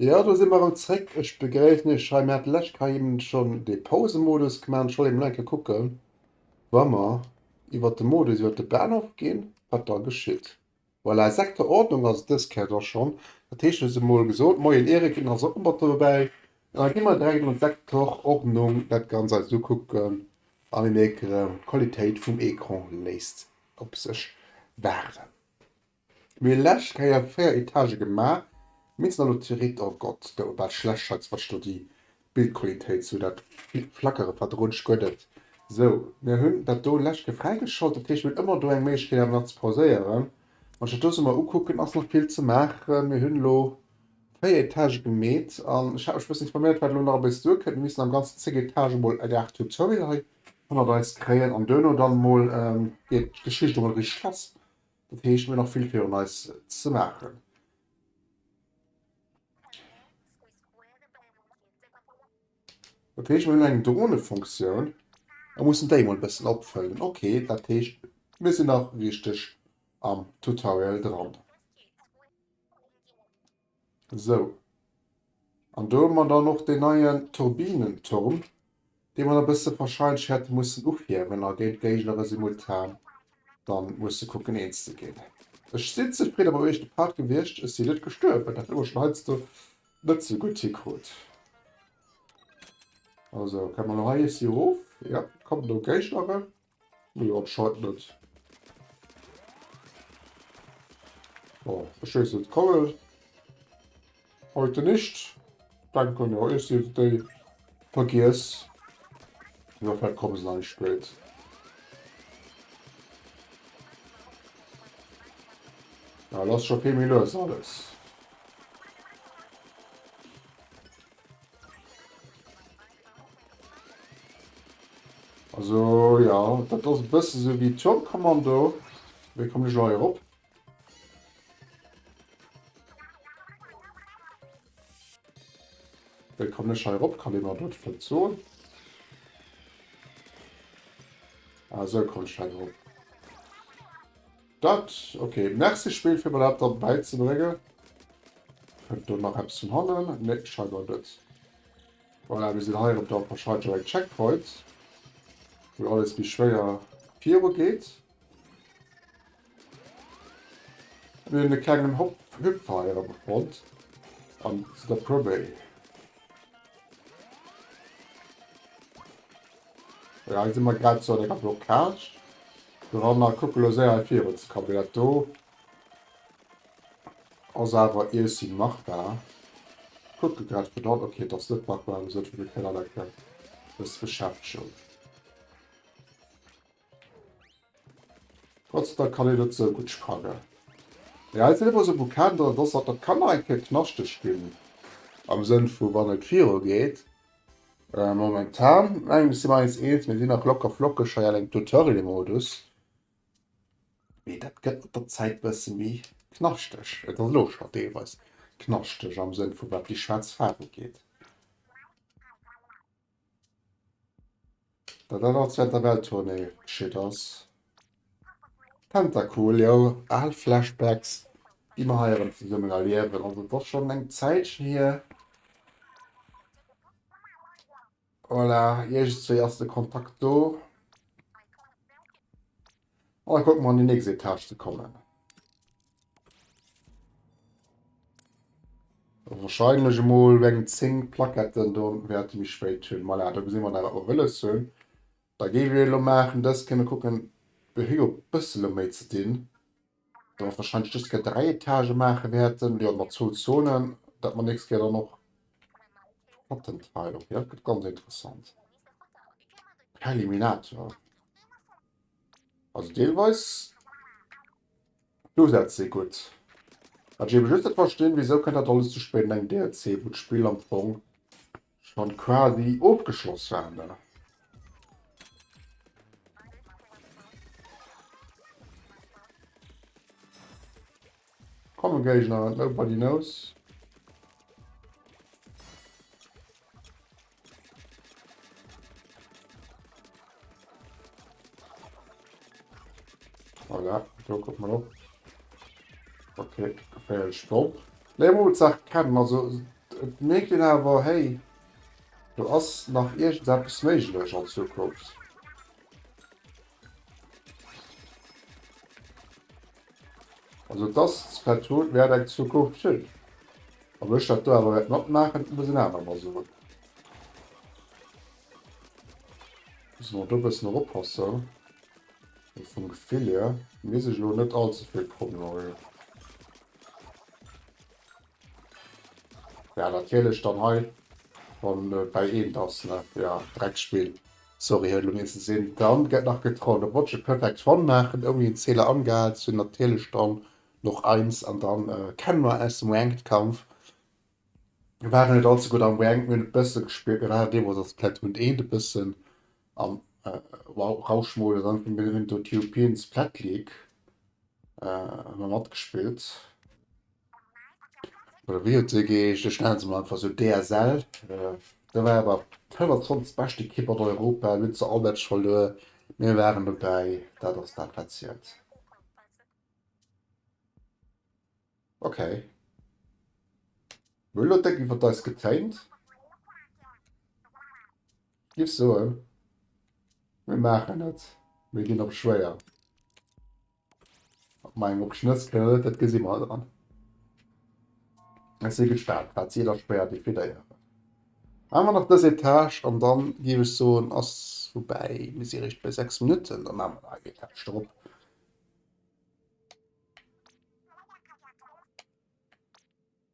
Jo do si mer erem zréck. Ech begréissen iech hei. Mir haten d'lescht Kei eben schon dee Pausemodus gemaat an ech wollt eben nach eng Kéier kucken wa mer iwwert de Modus iwwert de Bahnhof ginn wat da geschitt. Voilà sechster Ordnung ass et dës Kéier da schon, dat heescht ech huet se mol gesot. Moien Erik, den ass och mat dobäi. An da gi mer direkt an d'Sektor Ordnung dat Ganzt eis ukucken a mir mierken erem d'Qualitéit vum Ecran léisst op sech waarden. Mir hun läscht Keier 4 Etage gemaach, mee sin elo zeréck. Oh Gott, s du bal schlecht Schatz, wat's do déi Bildqualitéit sou dat Flackere verdrunsch guet et sou. Mir hun dat do läscht ke fräigeschalt, dat heescht mir hun ëmmer do eng Méiglechkeet awer nach ze pauséieren. Wann ech dat do sou mol ukucken, ass nach vill ze maachen. Mir hun elo 4 Etage gemeet an ech hat mech bëssen informéiert wat elo nach ebeis duer kënnt. Mir missen am ganzen 10 Etagen emol e Garde tout seul hei hannert eis kréien an duerno dann emol geet d'Geschicht emol richteg lass. Dat heescht, mir hunn nach vill virun eis ze maachen. Dat heescht, mir hunn eng Dronefunktioun a mussen déi emol e bëssen opfëllen. Ok, dat heescht, mir sinn nach richteg am Tutorial dran. Sou, an do hu mer dann och deen neien Turbinenturm, dee mer e bësse wahrscheinlech hätte mussen ufierwen a géint d'Géigner simultan da musse kucken eens ze ginn. Ech sinn zefridde mam éischte Part gewiescht, ech sinn net gestuerwen, dat hu mer schonn heiansdo net esou gutt hikrut. Also, kënne mer elo hei iessy erof? Jo, kommen do Géigner erëm? Jo anscheinend net. Oh ech wees net kowel heute nicht denken jo ech si déi vergiess oder vielleicht komme se nach méi spéit. Lass scho vill méi lues alles. Also ja, dat ass e bësse sou wéi Turmkommando. Wéi kommen ech elo hei erop? Wéi kommen ech hei erop? Kann ee mer dat vläicht soen? Ah, esou kommen ech hei erop. Dat ok merci Spill fir mer dat da bäi ze bréngen. Kënnt do nach eppes vun hannen? Nee scheinbar net. Voilà mir sinn hei erëm da verscheit jo eng Checkpoint wou alles méi schwéier viru geet. Mir hunn e klengen Hop Hüpfer hei erëm fonnt an si da promé. Jo hei si mer grad zu enger Blockage dran a kucke lo séier hei virun. Des Kabinett do ass awer ici Martha. Kucke grad fir dann, ok et ass net Martha, wéi gesot fir de Kanal enke ze beschäftegen. Trotzdem kann een et sou gudd spannen. Mee eis Evo sou gudd kennt, ass dass et kann nach eng Kéier knaschteg gin, am Sënn vu wann et viru geet. Momentan mengen ech si mer eis eens, mir si nach locker flockeg hei an engem Tutorial Modus, mee dat gëtt mat der Zäit bësse méi knaschteg. Et ass elo schon deelweis knaschteg am Sënn vu wat déi schwaarz Faarf ugeet. Well dat als während der Welttournee geschitt ass. Tentacool, jo, al Flashbacks, déi mer hei erëm zesummen erliewen. Also et ass schonn eng Zäitchen hier. Voilà, iergendswéi ass de Kontakt do. An da kucke mer an déi nächst Etage ze kommen. Wahrscheinlech emol eng 10 Plaquetten, do wäerte méi spéit hunn. Voilà, do gesi mer dat, wat mer wëlles hunn. Da géif ee elo maachen, dës kéint mer kucken, déi hu jo e bësse elo méi ze dinn, datt mer wahrscheinlech dës Kéier 3 Etagen maache wäerten, jo mat zwou Zonen, datt mer d'nächst Kéier dann och d'Platten teile. Okay, dat gëtt ganz interessant. Preliminator. Also deelweis d'Usätz si gutt. Wat ech eebe just net verstinn, wisou kënnt dat alles ze spéit an engem DLC, wou d'Spill am Fong scho quasi ofgeschloss war, ne? Kommen Géigner, nobody knows. Voilà, do guck mal op. Okay, geféier ech stopp. Nee, Mut sagt kennen, also et merkt den awer hey, do ass nach iergendeppes méiglech an Zukunft. Also dass d'Pad Hot wäert eng Zukunft hunn, ob ech dat do awer wäert matmaachen, muss en aner mer soen. Musse mer do e bëssen erop passen, mee vum Gefill hier misst ech elo net all ze vill Promenage. Jo natierlech dann hei wann et bäi eent ass ne, jo Dreckspill. Sorry hei lo meen ze sin. Dann get nach getrollt op Watch a Perfect One maachen ouni en Zähler angehaal ze hun, natierlech dann noch eins an dann kennen mer aus dem Ranked Kampf. Mir waren net all ze gudd am Ranked, mir hun e bessen gespielt, mir waren deemols als Platoon 1 e bessen am wow Rauschmodus an mir hun do d'European Splat League emmer matgespillt. Wéi huet se geheescht? Ech nenne se mol einfach esou, DSL. Do war awer d'fënnefunzeg bescht Ekipp an Europa, mir hunn zwar all Match verluer, mee mir waren dobäi, dat ass dat, wat zielt. Okay. Mir hunn elo déck iwwert eis getéint. Ech géif soen, mir maachen et. Mir ginn op schwéier. Meng op Schnëss gëllt, dat gesi mer dann. Ech si gespaant, wat si da schwéier definéieren. Maan mer nach dës Etage an dann géif ech soen ass voubäi. Mir si réischt bei 6 Minutten, da maan mer nach eng Etage drop.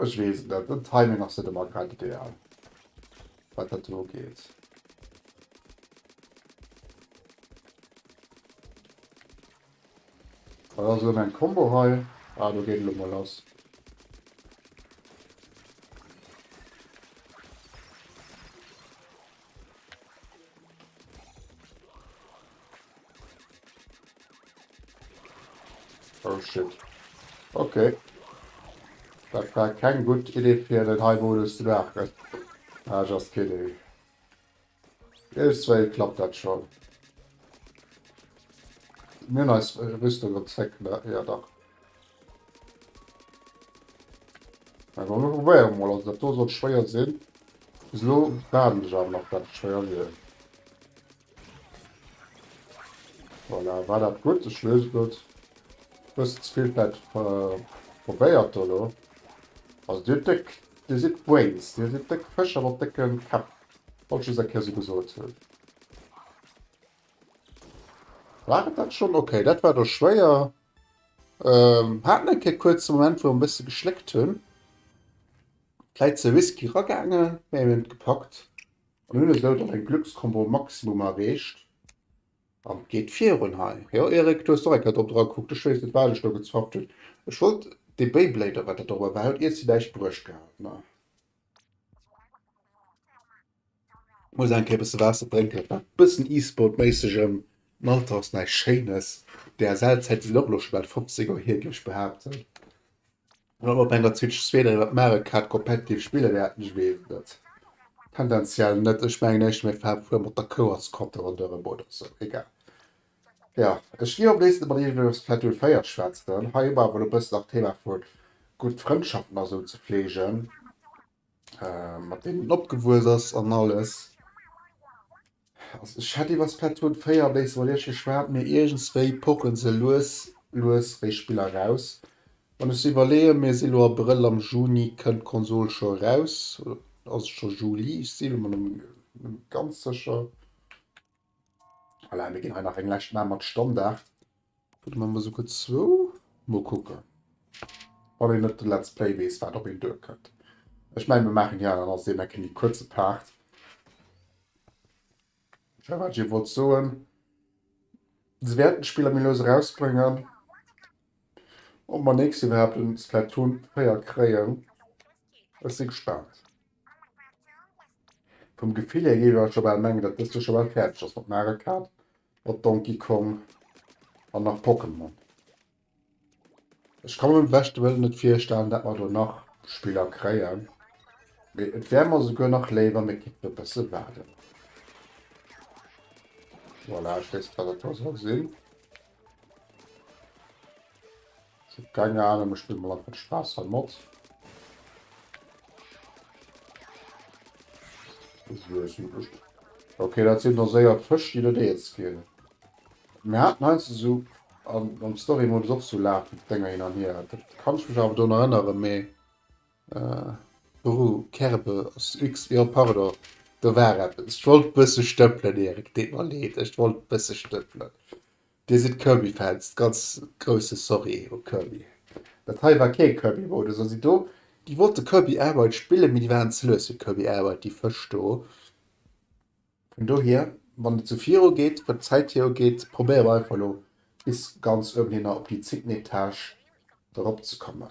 Ech wees net, den Timing ass net emmer grad ideal wat dat do ugeet. Wat ass elo meng Combo hei? Ah do geet elo mol lass. Oh shit. Okay. Dat war keng gutt Idee fir den hei Modus ze maachen. Ah, just kidding. Irgendwéi klappt dat schon. Mir hun eis Rüstung op zréck, ne? Ja dach. Awer mir probéieren mol, also dat do sollt schwéier sinn. Bis elo haten ech awer nach dat et schwéier wier. Voilà, war dat gutt? Ech loose gutt e bëssen ze vill vläit probéiert do elo. Also dir hutt déck, dir sidd Brains, dir sidd déck Fëscher mat décke Käpp. Wollt ech just eng Kéier esou gesot hunn. War et dat schonn? Okay, dat war do schwéier. Haten eng Kéier kuerz e Moment wou mer e bësse geschléckt hunn, vläit ze risky ragaange mä mir hunn et gepackt an hunn esou dann eng Glückskombo um Maximum erreecht an et geet virun hei. Jo Eric, du hues och eng Kéier drop dra kuckt, ech weess net wat ech do gezofft hunn, ech wollt dee Beyblader wat dat dobber war huet ier zu Deich bruecht gehat, mä. Muss eng Kéier e bësse Waasser drénken. Nach e bëssen E-Sport-méissegem am Alter ass näischt Schéines. DSL-Zäite sinn och elo scho bal 50 Joer hier, géif ech behaapten. An ob op enger Switch 2 dann iwwert Mario Kart competitive spille wäerten, ech weess et net. Tendenziell net. Ech mengen éischter mir faare fuer mat der Kou als Kopp ronderëm oder esou. Egal. Jo, ech gi och nees mat iech iwwer Splatoon 4 schwätzen. Hei hu mer awer elo e bëssen nach d'Thema vu gutt Frëndschaften a sou ze fleegen. mat deenen opgewuess ass an alles. Also ech hätt iwwer Splatoon 4 e béissi iwwerleecht geschwat, mee iergendswéi poche se lues lues wéi Spiller eraus. Wann ech sou iwwerleeë, mir si lo Abrëll, am Juni kënnt d'Konsol scho eraus, oder ass et scho Juli? Ech si mir lo net méi ganz sécher. Voilà, mir ginn hei nach eng lescht Main mat Standard. Vun de Member souguer zwou. Mol kucken, wann een net de Let's Play weess, wat op een duerkënnt. Ech mengen, mir maachen hir dann als deen enke méi kuerze Part. Firwat ech ee wollt soen, se wäerten d'Spiller méi lues erausbréngen. Ob mer nächst Joer iwwerhaapt en Splatoon 4 kréien, ech si gespaant. Vum Gefill hier géif ech scho bal mengen dat dëst jo scho bal fäerdeg ass mat Mario Kart, mat Donkey Kong an nach Pokémon. Ech ka mer beim beschte Wëllen net virstellen dat mer do nach Spiller kréien, mee et wär mer souguer nach léiwer mir kéinten e bësse waarden. Voilà, ech weess net wat dat do soll sinn. Keine Ahnung, mir spillen mal einfach den Spaß am Mod. Okay, dat sinn der séier Fësch, déi net eens ginn. Mir haten heinz de sou am Story-Modus och sou Lag-Dénger hin an hier. Dat kann ech mech awer drun erënneren, mee. Brrr Kerbel ass x jo pardon do war eppes ech wollt bësse stëppelen Erik deet mer leed ech wollt bësse stëppelen dir sidd Kirby Fans ganz grousse Sorry u Kirby dat hei war kee Kirby Modus also do déi wollte Kirby Air Ride spillen mee déi waren ze lues fir Kirby Air Ride déi Fësch do vun dohier wann et sou viru geet wat d'Zäit hier ugeet probéiere mer einfach elo bis ganz uewen hinner op déi zéngten Etage erop ze kommen.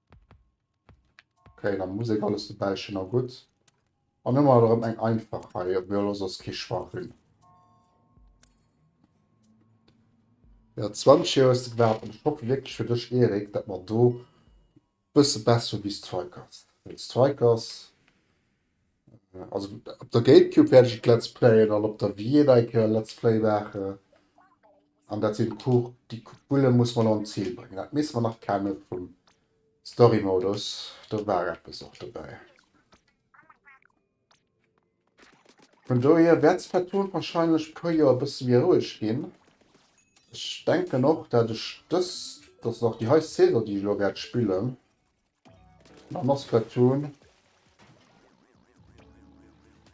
Okay, dann muss ech alles dobäi schënn a gutt. An ëmmer erëm eng einfach hei, ob mir los ass kee Schwach hunn. Ja, 20 Joer hues du gewaart an ech hoffe wierklech fir dech, Erik, dat mer do e bësse besser hu wéi Strikers. Well Strikers, Also op der Gamecube wäert ech et Let's Playen an op der Wii et eng Kéier Let's Play maachen. An dat sinn d'Cours, déi Bulle muss mer nach un d'Zil bréngen. Dat misst mer nach kenne vum Story-Modus, do war eppes och dobäi. Vun dohier wäert Splatoon warscheinlech e puer Joer e bësse méi roueg ginn. Ech denken och, dat ech dës, dass et och déi hei Saison, déi ech elo wäert spillen, Mam Asketon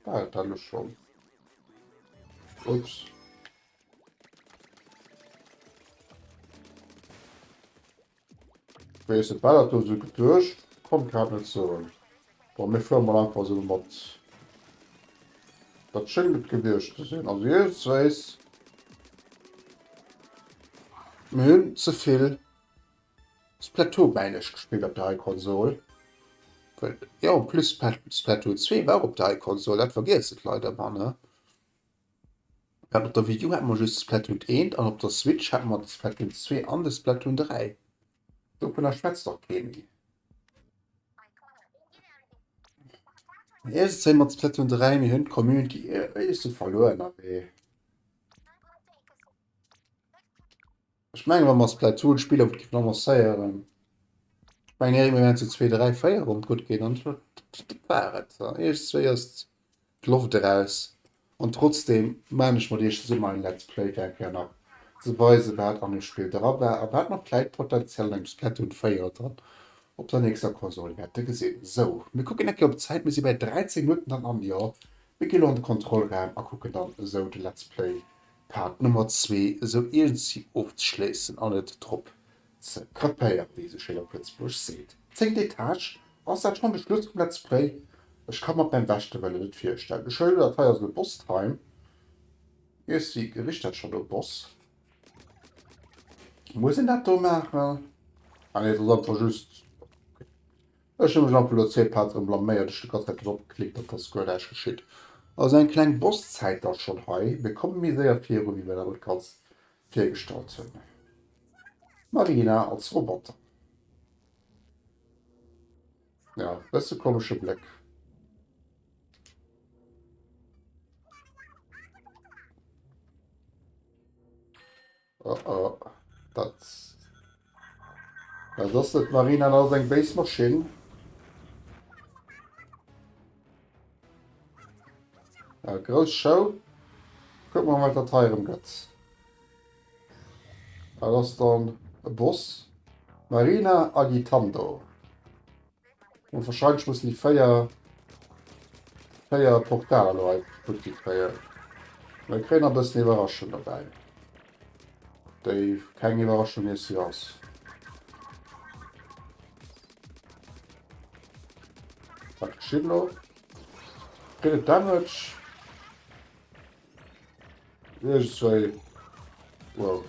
war et dann och schonn. Ups. Wéi se ballert do sou geduecht, konnt grad net soen. Bon, mir fuere mol einfach sou mat. Dat schéngt et gewiescht ze sinn. Also jeeweils wéisst, mir hunn ze vill Splatoon männech gespillt op der Heikonsol, well jo en plus Splatoon 2 war och op der Heikonsol, dat vergiessen d'Leit ëmmer ne. Well op der Wii U hat mer just Splatoon 1 an op der Switch hat mer de Splatoon 2 an de Splatoon 3, dovunner schwätzt och kee méi. Iergends hu mer de Splatoon 3, mir hunn d'Community e bësse verluer nawee. Ech mengen, wa mer eis vläicht zwou Spiller gutt géifen annoncéieren, ech mengen, Erik, mir wären zu zwee, dräi, véier, wann et gutt geet. An dat war et. Iech zwéi ass d'Loft eraus. An trotzdeem maachen ech mat iech zesummen hei en Let's Play, fir eng Kéier nach ze weisen, wat an deem Spill dra war a wat mer vläicht potenziell an engem Splatoon 4 oder dann op der nächster Konsol wäerte gesinn. Sou, mir kucken eng Kéier op d'Zäit, mir si bäi 13 Minutten dann an. Jo, mir ginn elo an de Kontrollraum a kucken dann esou de Let's Play Part Nummer zwee esou iergendsi ofzeschléissen an et drop ze krapéieren, wéi ee sou schéin op Lëtzebuergesch seet. Zéngt Etage, ass dat schonn de Schluss vum Let's Play? Ech ka mer et beim beschte Wëllen net virstellen. Ech huelen un, dat hei ass elo Boss Time. Iergendsi richt dat schonn no Boss. Muss een dat do maachen? Ah nee, et ass einfach just. Ech hu mech am Velozeep hat erem blaméiert, ech de ganze Zäit drop geklickt an et ass guer näischt geschitt. Also eng kleng Bosszäit da schonn hei, mir komme méi séier virun wéi mir dat alt ganz virgestallt hunn. D'Marina als Roboter, jo bësse komesche Bléck. Oh oh, dat dat ass net Marina, dat ass eng béis Maschinn. Ja, grouss Show. Kuck mal wat dat heirem gëtt. Dat ass dann e Boss. Marina Agitando. Und wahrscheinlich muss die Feier Feier Portal Leute gut die Feier Mein Trainer bist eine Überraschung dabei Dave keine Überraschung hier sie aus Schimmer Damage Nee, just zwei. Wow.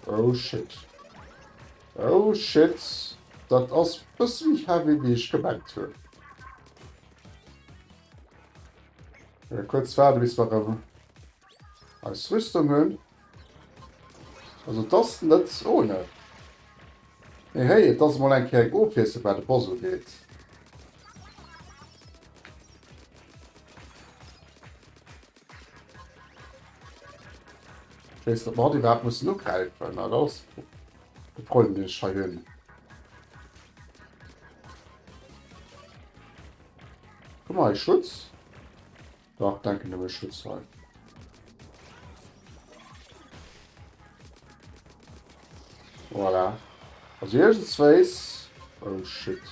Oh shit. Oh shit. Dat ass bëssen heavy wéi ech gemengt hunn. Ja, kurz waarde bis warum. Als Rüstung hunn. Also et ass net ohne. Mee hey, et ass emol eng Kéier eng Ofwiesslung wat de Boss ugeet. Ich weiß nicht, ob wir überhaupt müssen angreifen. Na, das ist der Problem, den ich schon habe. Guck mal, Schutz. Dach denken ech schutz hei. Voilà. Also irgendsweis. Oh shit.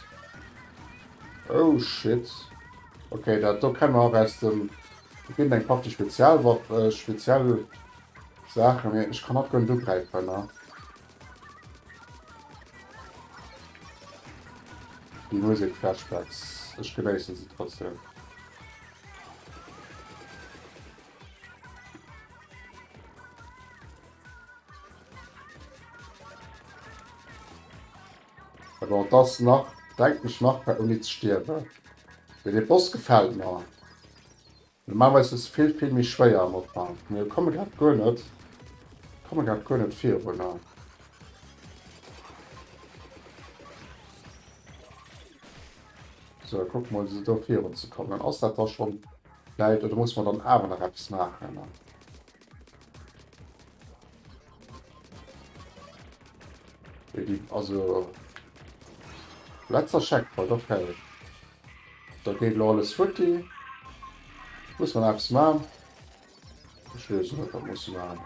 Oh shit. Okay, dat do kennen wir auch aus dem. Da ginn eng Partie Spezialwaff, äh, speziell Sachen. Ich kann net gönn du greifen, ne? Déi Musek Flashbacks, ech genéissen se trotzdem. Bon, das nach denkt mech nach bei Uni ze stierwen. Den Boss gefällt mer. Normalerweis ass et vill vill méi schwéier am Ufank, mee komme grad guer net komme grad guer net virunner. Sou kucke mol se do virun ze kommen. Ass dat da schonn läit oder muss mer dann awer nach eppes maachen? Déi also letzter Checkpoint, okay. Dat geet elo alles futti. Muss man eppes man. Ech wees net wat muss man.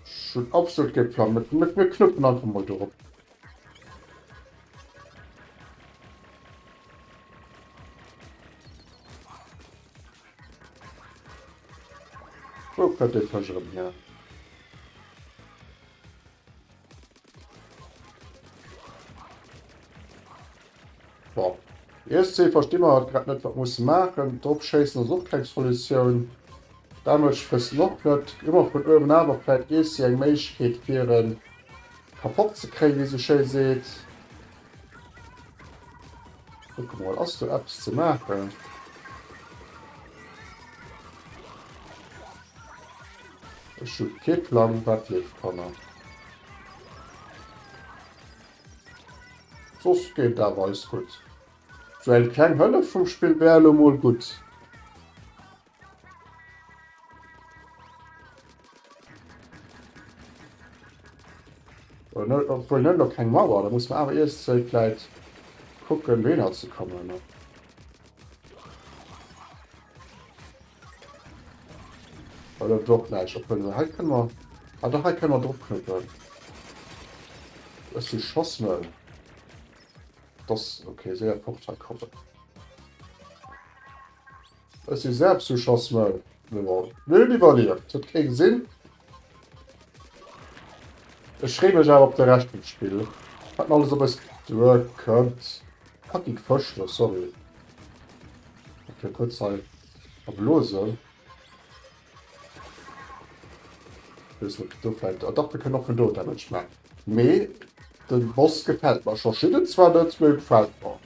Ech hun absolut kee Plan. Mir knuppen einfach mol dorop. Wou kënnt dee Fësch erëm hier? Bon. ESC versti mer grad net wat musse maachen. Drop schéissen ass och keng Solutioun. Damage friessen och net. Hu mer vun uewen awer vläit ESC eng Méiglechkeet fir e kapott ze kréien wéi se sou schéi seet. Kuck mol ass do Apps ze maachen. Ech hu kee Plang wat leeft Kanner. Sos geet awer alles gutt. Sou eng kleng Hëllef vum Spill wär elo mol gutt. Obwohl net op keng Mauer, da muss man awer iers Zelt läit kucken wéi ënner ze kommen. Oder doch näisch op kënne hei kënne mer ah dach hei kënne mer drop knüppeln. Ech si Schossmëll. Dass okay séier fort hei kommen. Ech si selbst zu Chasmel geroll, mee hun iwwerlieft, huet kee gesin. Ech free mech awer op de Rescht vum Spill, wat mer alles op eis duer kënnt. Fucking Fësch do, sorry, ech gouf kuerz hei verblosen. Ech wees net, ob do vläit, ah dach, mir kënnen och vun do Damage man, mee den Boss gefällt mer scho, Shidden zwar net, mee gefällt mer.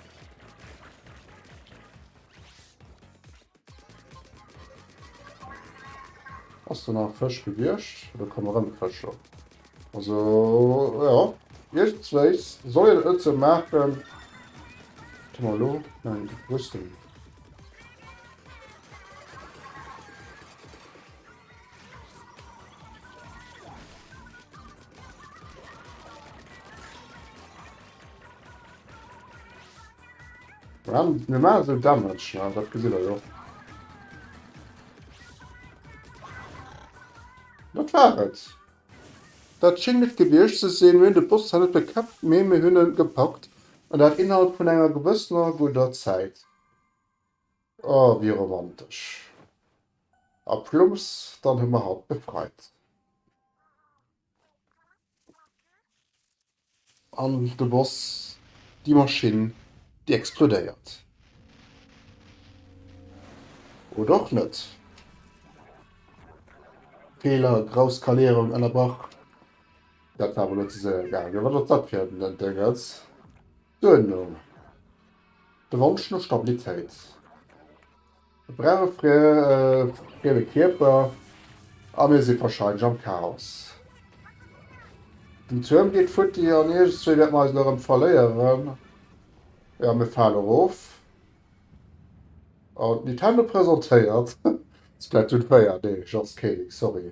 Ass do nach Fësch gewiescht? Do komme rëm Fësch op. Also ja, iergenswéis soll een et sou maachen. Warte mal, elo? Nein, wou ass den? Warum normal so Damage? Ja, das gesehen wir doch. Was war das? Das schien nicht gewesen zu sein. Wir haben den Boss zwar nicht bekämpft, aber wir haben ihn gepackt. Und das innerhalb von einer gewisser guter Zeit. Oh, wie romantisch. A plumps, dann haben wir halt befreit. An de Boss, déi Maschinn, déi explodéiert. Oder och net. Feeler, grouss Skalierung, ënnerbrach. Dat war mol net ze soe gaangen. Wat ass dat fir en Dëngerz? Duerno de Wonsch no Stabilitéit, E brauch e frieme Kierper a mir si warscheinlech am Chaos. Den Tuerm geet futti an iergendzwee wäerte mer eis elo erëm verléieren. Jo, mir fale erof an Nintendo presentéiert Splatoon 4. Nee, just kidding, sorry.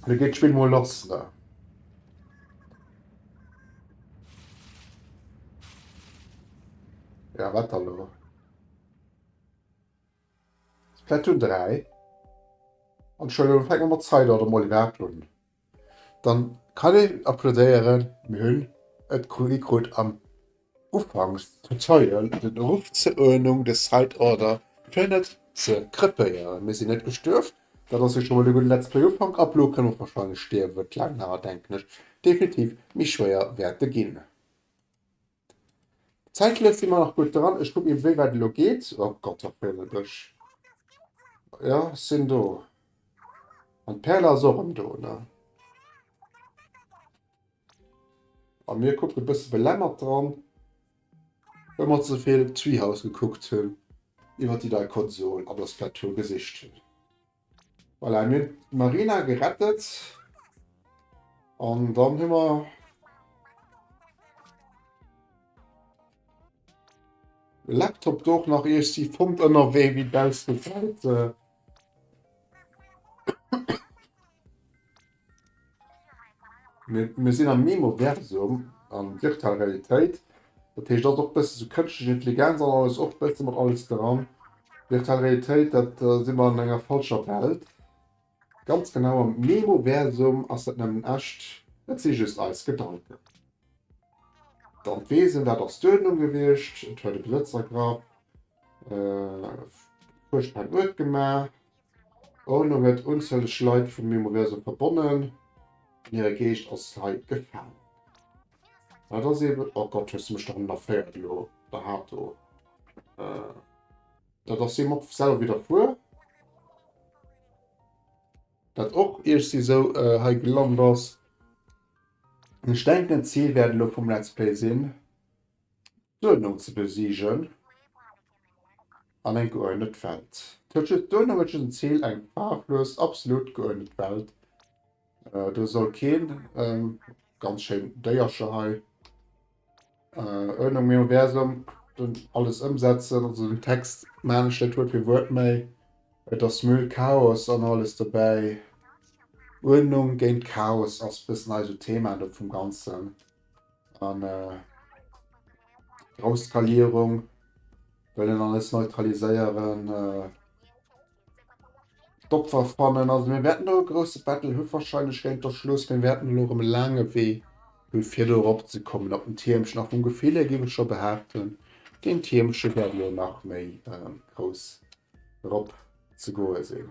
Lo geet d'Spill mol lass. Ja, wat dann elo? Splatoon 3? An scho elo fänke mer mat Zeit oder mol iwwerhaapt un. Dann kann een applodéieren, mir hunn et kritt am. Ufanks huet Zeien den Eruff ze Oenung de Side Order fir net ze krepéieren. Mir sinn net gestuerf, dat ass jo scho mol e gudde Let's Play Ufank, ab elo kënnen och wahrscheinlech stierwen. D'Laang Haer denken ech definitiv méi schwéier wäerte ginn. Zäitlech si mer nach gutt dran. Ech kucken eben wéi wäit elo geet. Oh Gott da freet et mech. Jo ech sinn do. An d'Perle ass och erëm do ne. A mir kucken e bësse belämmert dran, well mer ze vill Treehouse gekuckt hunn, iwwer déi nei Konsol an der Splatoon gesicht hunn. Voilà, mir hunn d'Marina gerettet an dann hu mer de Laptop do och nach iessji fonnt ënnerwee, wéi baussent d'Welt. Mir sinn am Memoversum a virtuell Realitéit, dat heescht ass och bësse sou kënschtlech Intelligenz an alles och bësse mat alles dran. Virtuell Realitéit dat si mer an enger falscher Welt. Ganz genau am Memoversum ass dat nëmmen echt, et si just eis Gedanken. D'Anthwesen, dat ass d'Uerdnung gewiescht, et huet e Besëtz ergraff, e puer Spennuert gemaach. Ono huet unzäleg Leit vun mengem Réseau verbonnen an hire Geescht ass hei gefaangen. Dat ass eben, oh Gott, hues de mech doranner féiert elo, da hat do, dat ass hie mer selwer widderfuer, dat och iergst esou hei gelant ass. Ech denken d'Zil wäert elo vum Let's Play sinn. D'Uerdnung ze besigen an eng geuerdnet Welt huet just d'Uerdnung huet just en Zil, eng faarflos, absolut geuerdnet Welt. Do soll keen, ganz schéin Déiercher hei, Uerdnung im Universum, den alles ëmsetzen, also den Text maan ech net Wuert fir Wuert, mä et ass Müll, Chaos an alles dobäi. Uerdnung géint Chaos ass bëssen eise Thema do vum Ganzen. an äh, Rauskalierung wëllen alles neutraliséieren. Äh, D'Opfer fannen also mir werden no e grosse Battle hu wahrscheinlech géint der Schluss, mir werden lo um laange Wee hu fir do erop ze kommen op den Tiermchen nach vum Gefill her giwe scho behaapten, den Tiermche wäert lo nach méi äh, grouss erop ze goe sinn.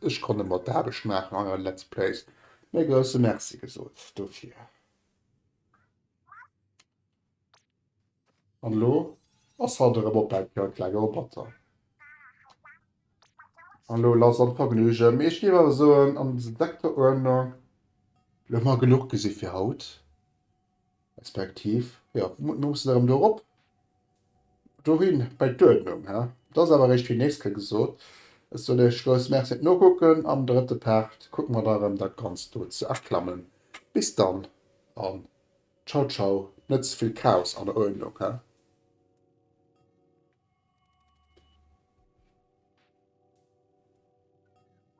Ech konnt emmer d'Aarbecht maachen an eure Let's Plays, mä grousse Merci gesot dofir. An elo ass halt erëm op mäi Kör, klenge Roboter. An elo lass an d'Vergnügen, mee ech géif awer soen, an sedekter Uerdnung, elo hu mer genuch gesi fir haut. Respektiv, jo, mir mussen erëm do erop, dohin, bei d'Uerdnung. He, et ass awer eréischt fir déi nächst Kéier gesot. Ech soen iech grouss Merci fir d'Nokucken. Am drëtte Part kucke mer da erëm, dat Ganzt do ze erklammen. Bis dann a Ciao Ciao, net ze vill Chaos an der Uerdnung, he.